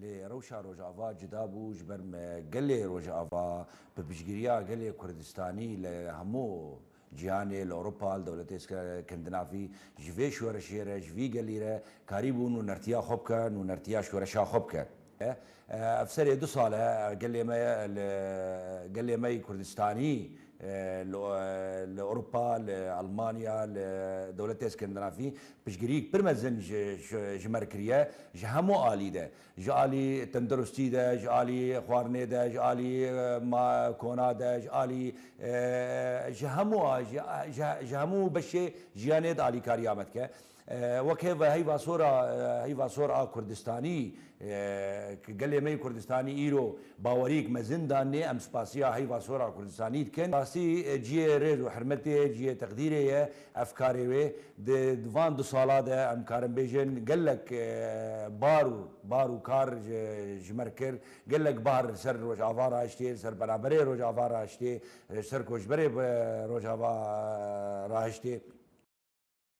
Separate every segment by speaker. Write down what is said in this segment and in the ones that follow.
Speaker 1: Lê rewşa Rojava cuda bû ji ber me gelê Rojava bi piştgiriya gelê Kurdistanî li hemû cîhanê, li Ewropa, li dewletê Skandinavî ji vê şoreşê re, ji vî gelî re karî bûn û nertiya xwe bike û nertiya şoreşa xwe bike. Ev serê du sal e gelê me li gelê me yî Kurdistanî Li Ewropa, li Elmanya, li dewletê Skandinavî piştgiriyîk pir mezin ji me re kiriye ji hemû alî de. Ji alî tenduristî de, ji alî xwarinê de, ji alî kona de, ji alî ji hemû ji hemû beşê jiyanê de alîkariya me dike. Wek hêv heyva sor a heyva sor a Kurdistanî ki gelê me yê Kurdistanî îro baweriyêk mezin danê em spasiya heyva sor a Kurdistanî dikin. Rastî ciyê rêz û hirmetê ye, ciyê teqdîrê ye ev karê wê. Di van du sala de em karin bêjin gelek bar û bar û kar ji me re kir. Gelek bar li ser Rojava raiştê, li ser penaberê Rojava raiştê, ji ser koçberê Rojava raiştê.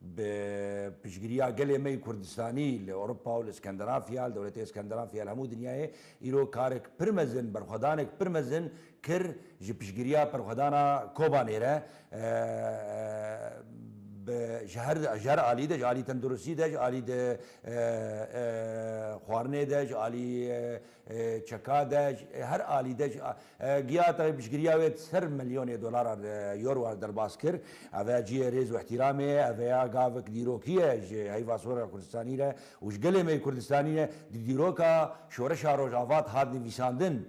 Speaker 1: Bi piştgiriya gelê me yê Kurdistanî li Ewropa û li Skandinafya, li dewletê Skandinafya li hemû dinyayê îro karek pir mezin, berxwedanek pir mezin kir ji piştgiriya berxwedana Kobanê re bi ji her ji her alî de ji alî tenduristî de ji alî xwarinê de ji alî Çeka de ji her alî de ji GIAT-a piştgiriya wê ser milyonê dolaran euroan derbas kir. Ev ya cihê rêz û îhtîramê ye, ev ya gavik dîrokî ye ji heyva Sora Kurdistanî re û ji gelê me yê Kurdistanî re. Di dîroka Şoreşa Rojava de hat nivîsandin.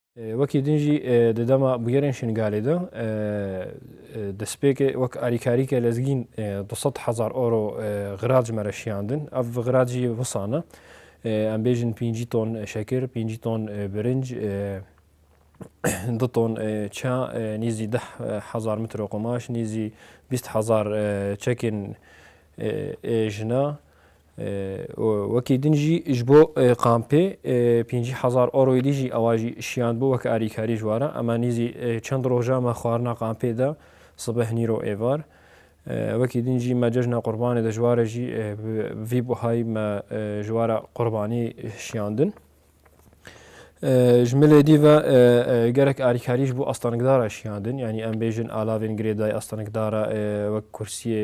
Speaker 2: Wekî din jî di dema bûyerên Şingalê de destpêkê wek alîkarîke lezgîn du sed hezar euro xirac me re şiyandin. Ev xirac jî wisan e. Em bêjin pêncî ton şekir, pêncî ton birinc, du ton ça, nêzî deh hezar mitro qumaş, nêzî bîst hezar çekên jina, Wekî din jî ji bo kampê pêncî hezar euroyê dî jî ewa jî şiyand bû weke alîkarî ji we re. Ema nîzî çend roja me xwarina kampê de sibeh nîro êvar. Wekî din jî me cejna qurbanê de ji we re jî bi vî buhayî me ji we re qurbanî şiyandin. Ji milê dî ve gelek alîkarî ji bo astanikdara şiyandin. Yanî em bêjin alavên girêdayî astanikdara wek kursiyê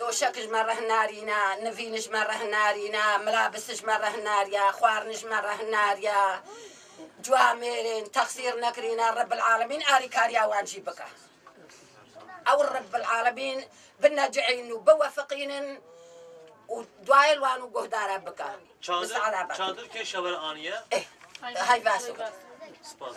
Speaker 3: Doşek ji me reh narîne, nivîn ji me reh narîne, mirabis ji me reh nariye, xwarin ji me reh nariye. Cuwa mêrên texsîr nekirîne Rebbil Alemîn alîkariya wan jî bike. Ew Rebbil Alemîn binecihînin û biwefiqînin û duayê li wan û guhdara bike.
Speaker 4: Çadir
Speaker 3: çadir kê şewer aniye? Hay baş. Spas.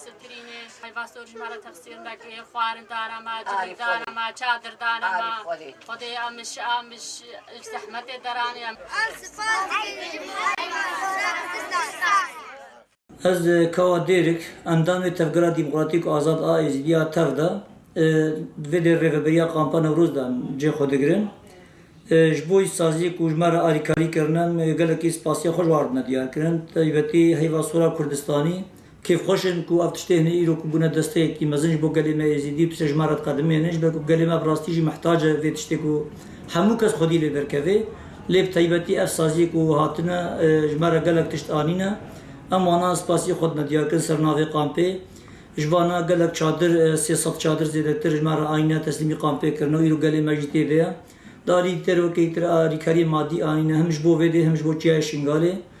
Speaker 5: Strînê, heyva sorî ma ra tefsîr neke, xwarin dana ma, civîk dana ma, çadir dana ma. Xwedê a min şi a min şi li zehmetê deraniya.
Speaker 6: Ez spas dikim heyva soran bizdanê. Ez Kawa Dêrik, endamê Tevgera Demokratîk Azad a Êzidî ya tev de di vê dê rêveberiya Kampa Newroz de em cê xwe digirin. Ji bo îşsaziyê ku ji me re alîkarî kirine em gelekî spasiya xwe ji wan re dime diyarkirin. Taybetî heyva sora Kurdistanî Kêfxweş in ku ev tiştê hene îro ku bûne desteyekî mezin ji bo gelê me Êzîdî û tu sejma re diqedimê hene ji ber ku gelê me bi rastî jî mihtac e vê tiştê ku hemû kes xwedî lê derkeve. Lê bi taybetî ev saziyê ku hatine ji me re gelek tişt anîne. Em wana spasiyê xwe dime diyarkirin ser navê kampê. Ji vana gelek çadir sê sed çadir zêdetir ji me re anîne teslîmî kampê kirine û îro gelê me jî tê de ye. Di aliyê dîterokeyî tira alîkariyên madî anîne him ji bo vê dê him ji bo çiyayê Şingalê.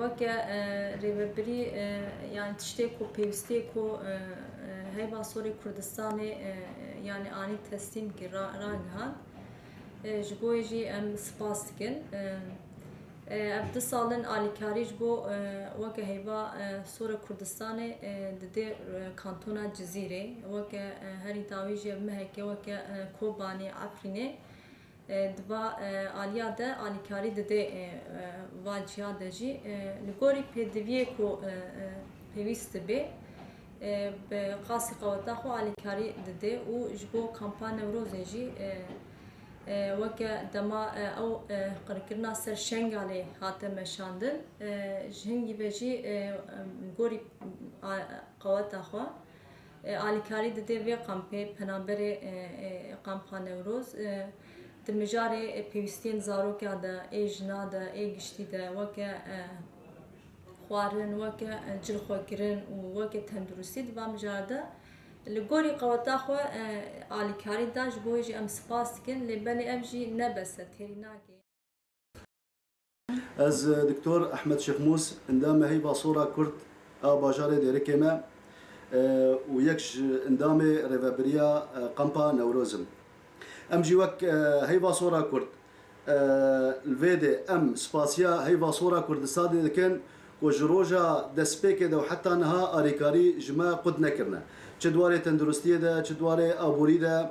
Speaker 7: Weke rêvebirî yanî tiştê ku pêwîstiyê ku heyva sorê Kurdistanê yanî anî teslîmkî ragihand. Ji bo wê jî em spas dikin. Ev du sal in alîkarî ji bo weke heyva sora Kurdistanê didê kantona Cizîrê. Weke herî dawî jî ev mehekê weke Kobanê, Efrînê. Di va aliya de alîkarî didê va ciya de jî li gorî pêdiviyê ku pêwîst dibê bi qasî qeweta xwe alîkarî didê û ji bo kampa Newrozê jî weke dema ew qirkirina ser Şengalê hate meşandin ji hingî ve jî gorî qeweta xwe Alîkarî dide vê kampê penaberê Kampa Newroz di mijarê pêwîstiyên zarokan de ê jinan de ê giştî de weke xwarin, weke cilxwekirin û weke tenduristî di van mijar de li gorî qeweta xwe alîkarî da ji bo wê jî em spas dikin lê belê ev jî ne bes e têrî nake.
Speaker 8: Ez Doktor Ehmed Şêxmûs endamê Heyva Sora Kurd a bajarê Dêrikê me û yek ji endamê Rêvebiriya Kampa Newroz im. Em jî wek Heyva Sora Kurd li vê dê em spasiya Heyva Sora Kurdistanê dikin ku ji roja destpêkê de û heta niha alîkarî ji me qut nekirine. Çi di warê tenduristiyê de, çi di warê aborî de,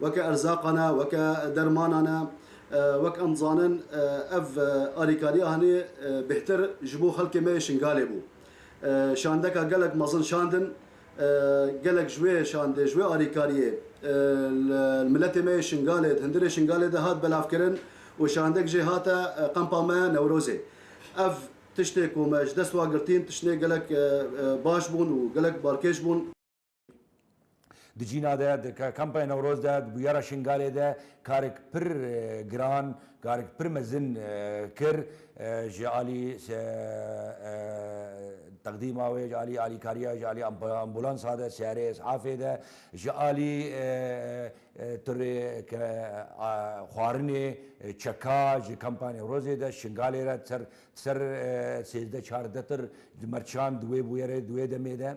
Speaker 8: weke erzaqan e, weke dermanan e, wek em dizanin ev alîkariya hanê bêhtir ji bo xelkê me yê Şingalê bû. Şandeka gelek mezin şandin, gelek ji wê şandê, ji wê alîkariyê li miletê me yê Şingalê, di hundirê Şingalê de hat belavkirin û şandek jê hate qempa me Newrozê. Ev tiştê ku me ji dest wa girtîn, tiştên gelek baş bûn û gelek balkêş bûn.
Speaker 1: Di cîna de di kampaya Newroz de di bûyera Şingalê de karek pir giran karek pir mezin kir ji alî teqdîma wê ji alî alîkariya ji alî ambulansa de siyarê esafê de ji alî tirê ke xwarinê çeka ji kampaya Newrozê de Şingalê re ser ser sêzdeh çardeh tir mercan di wê bûyerê di wê demê de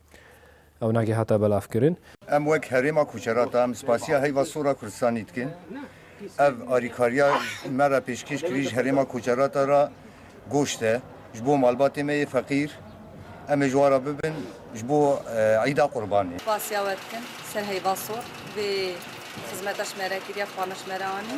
Speaker 2: Ewna kî hate belavkirin. Em wek Herêma
Speaker 9: Kuçerata em spasiya heyva Sora Kurdistanî dikin. Ev alîkariya me re pêşkêş kirî ji Herêma Kuçerata re goşt e ji bo malbatê me yê feqîr. Em ê ji wan re bibin ji bo Îda Qurbanê. Spasiya we dikin ji
Speaker 10: ser heyva Sor. Vê xizmeta ji me re kiriye xwe me ji me re anî.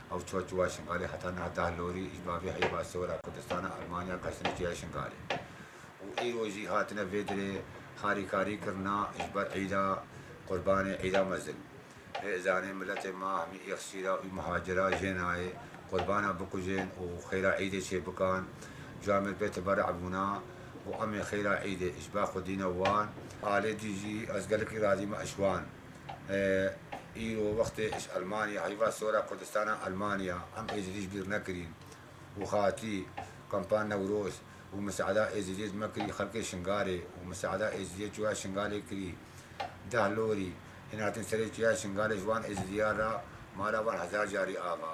Speaker 11: Ew çûya çûya Şingalê heta niha deh lorî ji bavê heyva sora Kurdistana Elmanya qeştine çûya Şingalê û îro jî hatine vê dirê harîkarî kirina ji ber îda Qurbanê îda mezin. Rê izanê miletê ma hemî îxsîra û mihacira jê nayê Qurbana bikujên û xêra îdê çê bikan. Cûya me bê teberî bûna û emê xêra îdê ji ba xwe dîne wan. Alê dî jî ez gelekî razî me eşwan. Îro wextê iş Elmanya heyva sora Kurdistana Elmanya em Êzidî ji bîr nekirîn û hatî kampa Newroz û miseada Êzidî ji me kirî xelkê Şingalê û miseada Êzidî çûya Şingalê kirî deh lorî hîn hatin serê çûya Şingalê ji wan Êzidîyan ra mala wan hezar carî ava.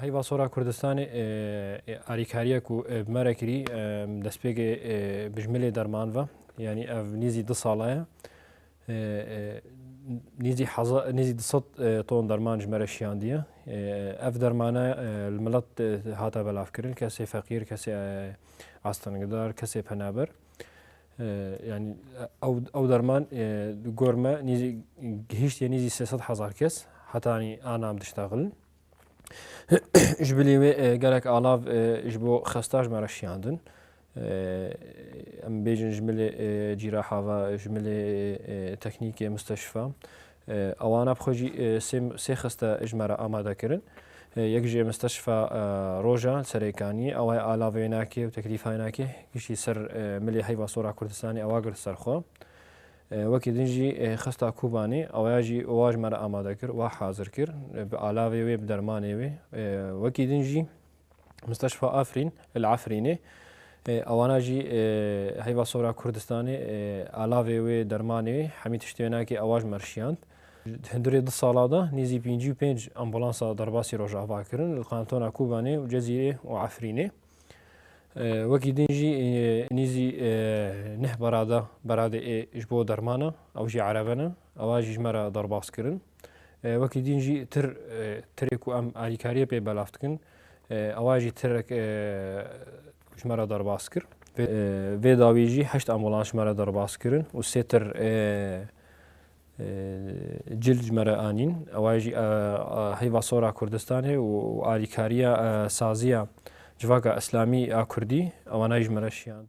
Speaker 12: Heyva Sora
Speaker 2: Kurdistanê ê alîkariya ku bi me re kirî destpêkê bijmilê derman ve yanî ev nîzî du sala ye nîzî nîzî du sed ton derman ji me re şiyandiye ev dermane li milet hate belavkirin kesê feqîr kesê astengidar kesê penaber yani ew derman di gor me nîzî gihîştiye nîzî sê sed hezar kes hetanî anam diştexilin ji bilî wê gelek alav ji bo xesta ji me re şiyandin em bêjin ji milê cîra hava ji milê teknîkê misteşifa Awana bi xwe jî sê sê xiste ji me re amadekirin. Yek ji Misteşfa Roja li Serêkaniyê ew ê alave yê nake û teklîfa yê nake giştî ser milê heyva sora Kurdistanê ewa girt ser xwe. Wekî din jî xista Kobanê ew ya jî wa ji me re amade kir, wa hazir kir bi alavê wê bi dermanê wê. Wekî din jî. Musteşfa Afrîn li Efrînê ewana jî heyva sora Kurdistanê alavê wê dermanê hemî tiştê nakê ewa ji mer şiyand. Hindurê du sala de nêzî pêncî û pênc ambulansa derbasî rojava kirin li kantona Kobanê û Cezîrê û Efrînê. Wekî din jî nêzî neh berada beradê ê ji bo dermana ew jî erebe ne. Ava jî ji me re derbas kirin. Wekî dîn jî tir tirê ku em alîkariyê pê belav dikin ava jî tirek ji me re derbas kir. Vê dawî jî heşt ambulans ji me re derbas kirin û sê tir cil ji me re anîn. Ava jî heyva sora Kurdistanê û alîkariya saziya Civaka Îslamî a Kurdî ewana jî ji me re şiyand.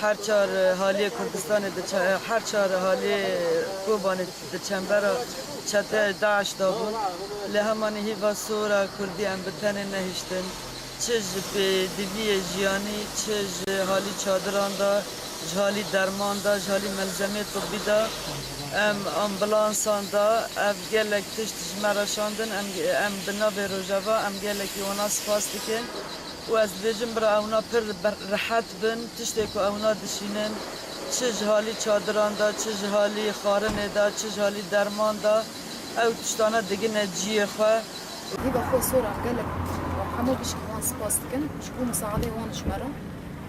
Speaker 13: Her çar haliyê Kurdistanê diçe her çar haliyê Kobanê di çembera çeteyê DAIŞ da bûn. Lê hemanî hîva sora Kurdî em bi tenê nehiştin. Çi ji pêdiviyê jiyanî, çi ji halî çadiran da, ji halî derman da, ji halî melzemeyê tibî da, em ambulansan da ev gelek tişt ji me re şandin. Em em bi navê Rojava em gelekî wana spas dikin. Û ez dibêjim bira ewna pir rehet bin tiştê ku ewna dişînin çi ji halî çadiran de çi ji halî xwarinê de çi ji halî derman de ew tiştane digine ciyê xwe. Wê bi xwe sorax gelek û hemû pişkî wan spas
Speaker 14: dikin ji bo misaadê wan ji me re.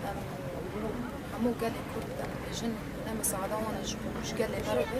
Speaker 14: Em û hemû gelê kurd em dibêjin ne misaada wan e ji bo ji gelê me re be.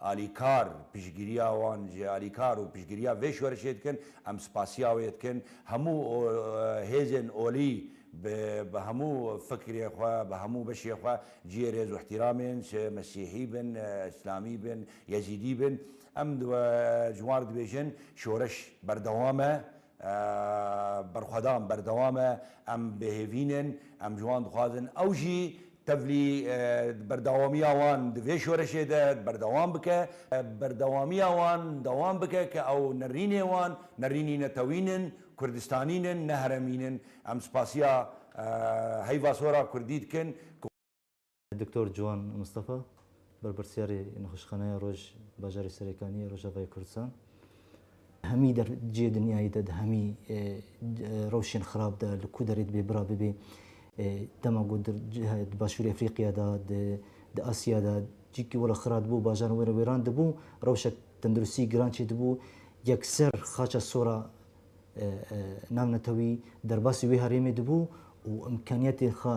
Speaker 1: Alîkar, piştgiriya wan ji alîkar û piştgiriya vê şorişê dikin, em spasiya wê dikin, hemû hêzên olî bi bi hemû fikrê xwe, bi hemû beşê xwe cihê rêz û îhtîramên, çi mesîhî bin, îslamî bin, yezîdî bin, em ji wan re dibêjin, şoreş berdewam e, Berxwedan berdewam e, em bêhêvîn in, em ji wan dixwazin ew jî tevlî berdewamiya wan di vê şoreşê de berdewam bike, berdewamiya wan dewam bike ke ew nerînê wan, nerînî netewîn in, kurdistanîn in, ne heremîn in. Em spasiya heyva sora kurdî dikin ku.
Speaker 15: Doktor Ciwan Mistefa, berpirsyarê Nexweşxaneya Roj bajarê Serêkaniyê Rojavayê Kurdistan, Hemî der cihê dinyayê de di hemî rewşên xirab de li ku derê dibê bira bibê. Dema ku di Başûrê Efrîqya de, di Asya de cihekî were xira dibû, bajaran were wêran dibû, rewşek tenduristî giran çê dibû. Yekser xaça sora navnetewî derbasî wê herêmê dibû û imkaniyetên xwe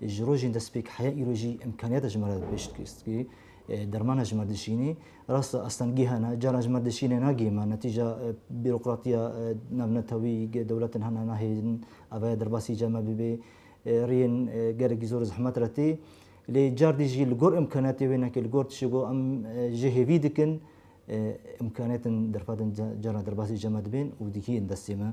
Speaker 15: Ji rojên destpêk heya îro jî îmkaniyata ji me re pêşt xistkî. Dermana ji me dişînî. Rast e astengî hene, caran ji me dişînê nagihê me. Netîca bîrokratiya navnetewî dewletin hene nahêlin ev heya derbasî ca me bibê. Riyên gelekî zor zehmet re tê. Lê cardî jî li gor îmkaniyatê wê neke, li gor tişê ku em jê hêvî dikin îmkaniyatin derfetin caran derbasî ca me dibên û digihîn destê me.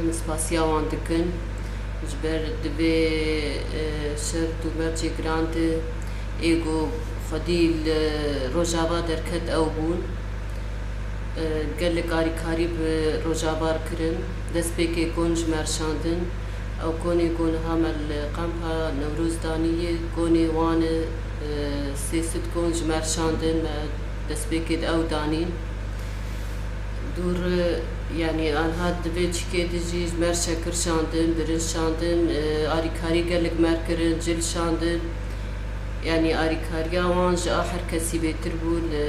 Speaker 16: em spasiya wan dikin ji ber di vê şert û mercê giran de ê ku xwedî li Rojava derket ew bûn. Gelek alîkarî bi Rojavar kirin, destpêkê kon ji me rişandin, ew konê ku niha me li Kampa Newroz danî ye, konê wan e, sê sed kon ji me rişandin, me destpêkê di ew danîn. Dûr yanî anha di vê çikê de jî ji mer şekir şandin, birinc şandin, arîkarî gelek mer kirin, cil şandin. Yanî arîkariya wan ji a her kesî bêtir bû. Li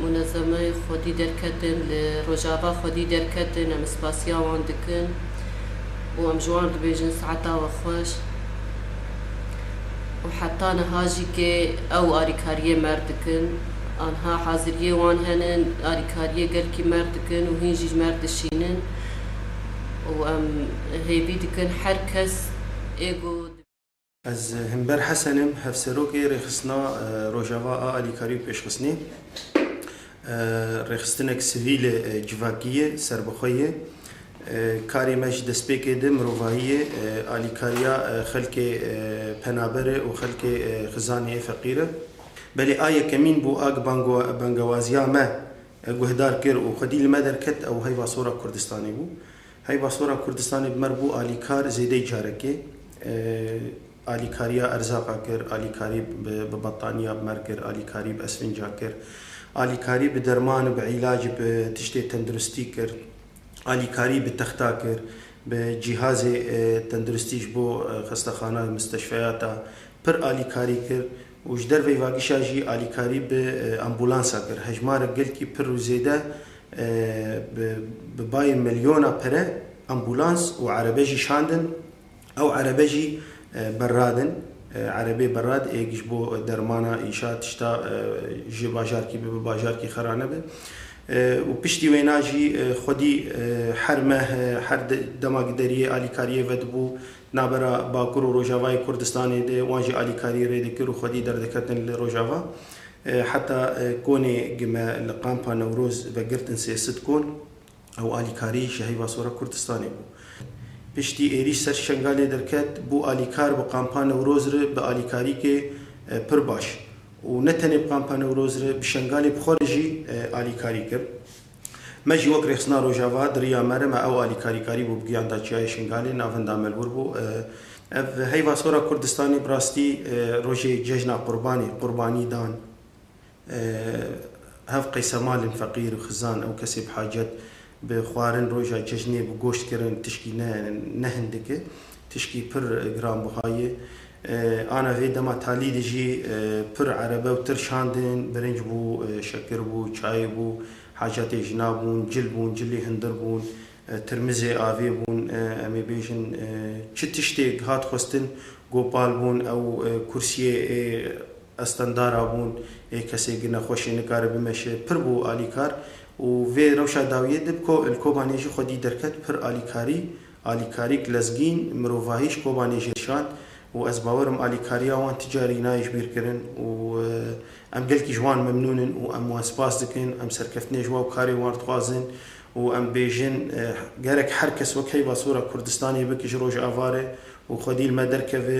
Speaker 16: munezemeyê xwedî derketin, li Rojava xwedî derketin. Em spasiya wan dikin û em ji wan dibêjin saeta we xweş. Û heta niha jî kê ew arîkariyê mer dikin. Anha haziriyê wan henin, alîkariyê gelkî merg dikin û hîn jî merg dişînin û em hêvî dikin her kes ê ku. Ez
Speaker 17: Himber Hesen im, Hevserokê Rêxistina Rojava a Alîkarî û Pêşxistinê. Rêxistinek sivîl e, civakî ye, serbixwe ye. Karê me ji destpêkê di mirovahî ye, alîkariya xelkê penaber e û xelkê xizanê yê feqîr e. Belê a yekemîn bû a bi bangewaziya me guhdar kir û xwedî li me derket ew heyva Sora Kurdistanê bû. Heyva Sora Kurdistanê bi me re bû alîkar zêdeyî carekê. Alîkariya erzaqa kir, alîkarî bi battaniya bi me re kir, alîkarî bi esfînca kir, alîkarî bi derman û bi îlacî bi tiştê tenduristî kir, alîkarî bi texta kir, bi cîhazê tenduristî ji bo xestexana, misteşfeyata pir alîkarî kir û ji derveyî vagişa jî alîkarî bi ambulansa kir. Hejmarek gelkî pir û zêde bi bayê milyona pere ambulans û erebe jî şandin. Ew erebe jî berrad in. Erebê berrad ê ji bo dermana înşa tişta ji bajarkî bibe bajarkî xera nebe û piştî wêna jî xwedî her meh her dema gideriyê alîkariyê vedibû Navbera Bakur û Rojavayê Kurdistanê de wan jî alîkarî rê dikir û xwedî derdiketin li Rojava. Heta konê gi me li Kampa Newroz vegirtin sê sit kon ew alîkarî ji heyva sora Kurdistanê bû. Piştî êrîş ser Şengalê derket bû alîkar bi Kampa Newroz re bi alîkarîkê pir baş û ne tenê bi Kampa Newroz re bi Şengalê bi xwe re jî alîkarî kir. Me jî wek Rêxistina Rojava, di riya me re me ew alîkarî karî bû bi giyan da Çiyayê Şingalê, navinda me li wir bû. Ev heyva sora Kurdistanê bi rastî rojê cejna Qurbanê, qurbanî dan hev qeysemalên feqîr, xizan û kesê bi hacet bi xwarin roja cejnê bi goşt kirin tişkî ne ne hindik e. Tişkî pir giranbiha ye. Ana vê dema talî de jî pir erebe û tir şandin, birinc bû, şekir bû, çayê bû, hacatê jina bûn, cil bûn, cilê hindir bûn, tirmizê avê bûn, em ê bêjin çi tiştêk hat xwestin Gopal bûn, ew kursiyê ê estendara bûn, ê kesê gina xweşê nikare bimeşe, pir bû alîkar û vê rewşa dawiyê de bi ko li Kobanê jî xwedî derket pir alîkarî Alîkarîk lezgîn, mirovahî ji Kobanê jê şand û ez bawer im alîkariya wan ti carî nayê ji bîr kirin û em gelkî ji wan memnûn in û em wan spas dikin. Em serkeftinê ji wan karê wan dixwazin û em bêjin gerek her kes wek heyva sora Kurdistanê bike ji Rojava re û xwedî li me derkeve.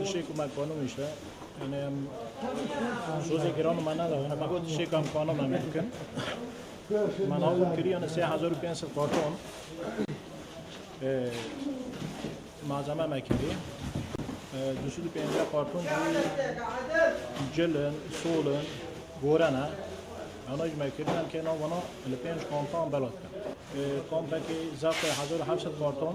Speaker 18: Dişê ku me qanû işte, yani em sozê giran me neda, yani me got dişê kam qanû me mümkün. Me navû kiri yani 3500 karton. Malzeme me kiri. 250 karton cilin, solun, gorena. Ana ji me kirin em kena vana li pênc kompan belat kir. Kompekê zafê 1700 karton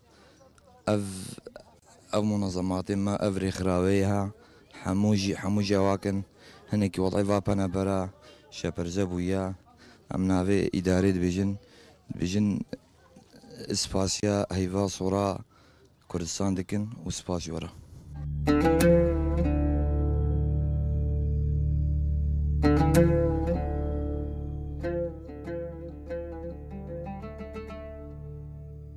Speaker 19: Ev ev munazematê me ev rêxirawê ye hemû jî hemû cewak in. Hinekî welay va pene bera şeperze bûye. Em navê îdarê dibêjin dibêjin spasiya heyva sora Kurdistan dikin û spas ji we re.